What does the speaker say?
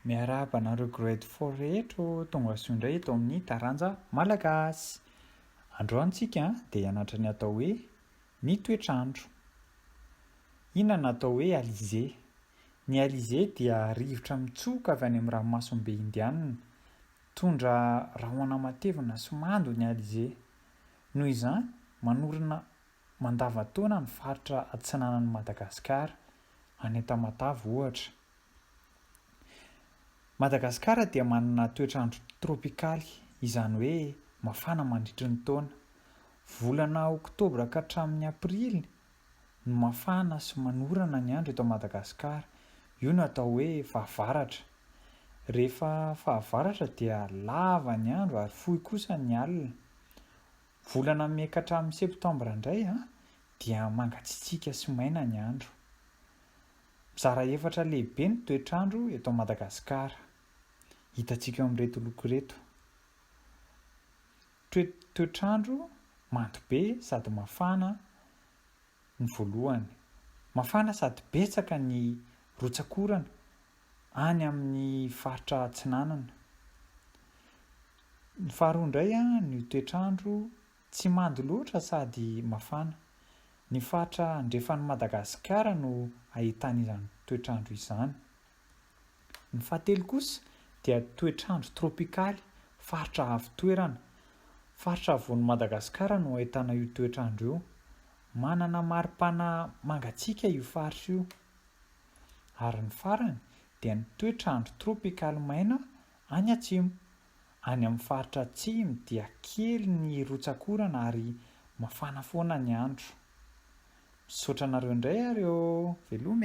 Miarahaba anareo grade four rehetra o, tonga soa indray eto amin'ny taranja malagasy. Androany tsika dia hianatra ny atao hoe ny toetr'andro. Inona no atao hoe alizé? Ny alizé dia rivotra mitsoka avy any amin'ny ranomasimbe indianina. Mitondra rahona matevina sy mando ny alizé. Noho izany, manorina mandavan-taona ny faritra atsinanan'i Madagasikara. any Antamatave ohatra. Madagasikara dia manana toetr'andro trôpikaly, izany hoe mafana mandritry ny taona. Volana oktobra ka hatramin'ny aprily no mafana sy manorana ny andro eto Madagasikara. Io no atao hoe fahavaratra. Rehefa fahavaratra dia lava ny andro ary fohy kosa ny alina. Volana mey ka hatramin'ny septambra indray dia mangatsitsiaka sy maina ny andro. Mizara efatra lehibe ny toetr'andro eto Madagasikara. Hitantsika eo amin'ireto loko ireto. Toetr'andro mando be sady mafana ny voalohany. Mafana sady betsaka ny rotsak'orana any amin'ny faritra atsinanana. Ny faharoa indray ny toetr'andro tsy mando loatra sady mafana. Ny faritra andrefan'i Madagasikara no ahitana izany toetr'andro izany. Ny fahatelo kosa dia toetr'andro trôpikaly, faritra avo toerana. Faritra avoan'i Madagasikara no ahitana io toetr'andro io. Manana maripana mangatsiaka io faritra io. Ary ny farany dia ny toetr'andro trôpikaly maina Any atsimo, any amin'ny faritra atsimo dia kely ny rotsak'orana ary mafana foana ny andro. Misaotra anareo indray ary ô! Veloma e!